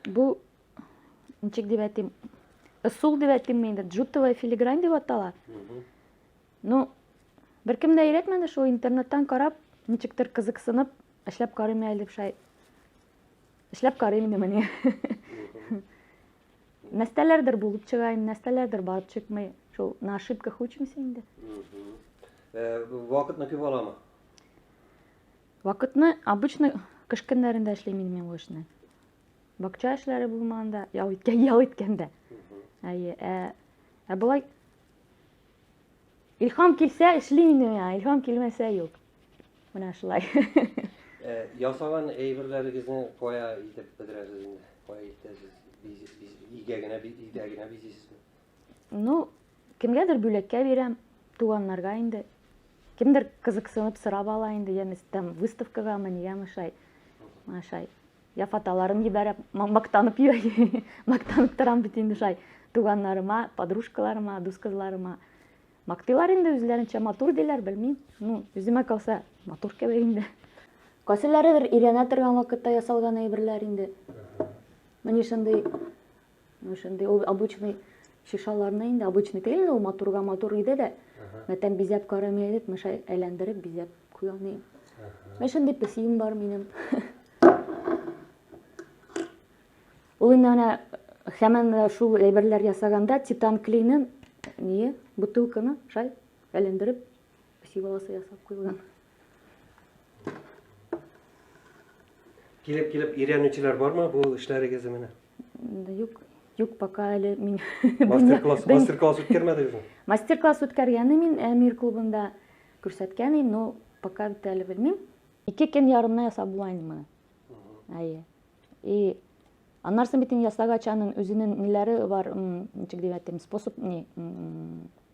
Бу ничек дип әйтим, ысул дип әйтимме инде, джутовая филигрань дип атала. Ну, беркем дә өйрәтмәде шул интернеттан карап, ничектер кызыксынып, эшләп карыйм әле дип шай. Эшләп карыйм инде менә. Нәрсәләрдер булып чыга, нәрсәләрдер барып чыкмый. Шул на ошибках учимся инде. Э, вакытны күп аламы? Вакытны обычно кыш көннәрендә эшлим инде мин бу эшне. Бакча эшләре булмаганда, ял иткән, ял иткәндә. Әйе, ә, ә болай Илхам килсә эшлим инде миңа, илхам килмәсә юк. Менә шулай. Э, ясаган әйберләрегезне кая итеп бетерәсез инде? Кая итәсез? Игә генә, игә генә бизисезме? Ну, кемгәдер бүләккә бирәм, туганнарга инде. Кемдер кызыксынып сорап ала инде, я там выставкагамы, нигәме шай. Менә шай. Я фотоларын җибәрә, мактанып йөри. Мактанып торам бит инде шай. Туганнарыма, подружкаларыма, дус кызларыма. Мактыйлар инде үзләренчә матур диләр, белмим. Ну, үземә калса, матур кебек инде. Кайсыларыдыр өйрәнә торган вакытта ясалган әйберләр инде. Менә шундый Ну, шундый ул обычный шишаларны инде обычный түгел ул матурга матур иде дә. Мә тәм бизәп карамый идек, мә шай әйләндереп бизәп куя ни. Мә шундый песием бар минем. Ул инде ана хәмән шул әйберләр ясаганда титан клейны ни бутылканы шай әйләндереп песи баласы ясап куйган. Килеп-килеп өйрәнүчеләр бармы бу эшләрегезне менә? Юк, юк, пока әле мин... Мастер-класс мастер үткәрмәдегезме? Мастер-класс үткәргәне мин Әмир клубында күрсәткән идем, но пока бит әле белмим. Ике көн ярымны ясап була инде моны. Әйе. И аннарсын бит инде ясагач аның үзенең ниләре бар, ничек дип әйтим, способ, не,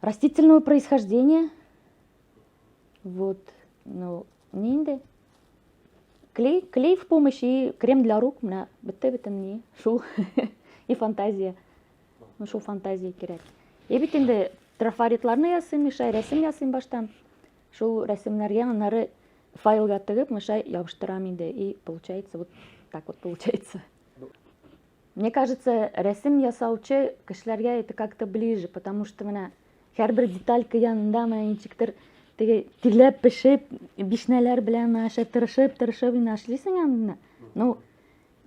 Растительного происхождения. Вот, ну, не инде. Клей, клей в помощь и крем для рук. Мына бетте бетен не. Шул. и фантазия. Ну, шул фантазия кирәк. И бит инде трафаритларны ясыйм, Миша, рәсем ясыйм баштан. Шул рәсемнәргә аннары файлга тыгып, Миша, ябыштырам инде. И получается вот так вот получается. Мне кажется, рәсем ясаучы кешеләргә это как-то ближе, потому что менә һәрбер деталька янында менә ничектер теге тиләп пешеп, бишнәләр белән мәшә тырышып, тырышып инде эшлисең аны. Ну,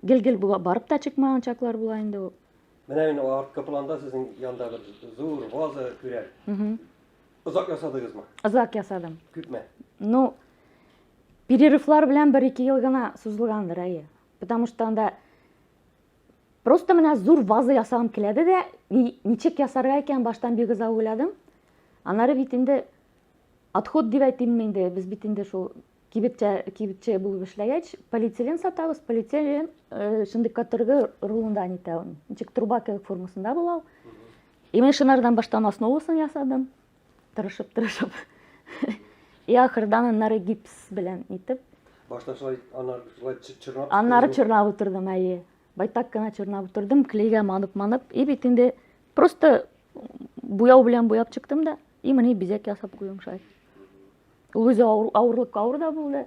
гел-гел барып та чыкмаган чаклар була инде ул. Менә мин арткы планда сезнең янда бер зур ваза күрәм. Озак ясадыгызмы? Озак ясадым. Күпме? Ну, перерывлар белән 1-2 ел гына сузылгандыр, әйе. Потому что анда просто менә зур ваза ясагым киләде дә, ничек ясарга икән баштан бик озак уйладым. Анары бит инде отход дип әйтимме инде, без бит инде шул кибетчә кибетче булып эшләгәч, полиэтилен сатабыз, полиэтилен э, шундый каторга рулында нитә ул. Ничек труба кебек формасында була ул. И мен шунардан баштан основасын ясадым. Тырышып, тырышып. И ахырдан аннары гипс белән итеп. Башта шулай аннары шулай чорнап. Аннары чорнап утырдым, әйе. Байтак кына чорнап утырдым, клейгә манып, манып. И бит инде просто буяу белән буяп чыктым да, и менә бизәк ясап куйдым шулай. Ул үзе авырлыкка авыр да булды.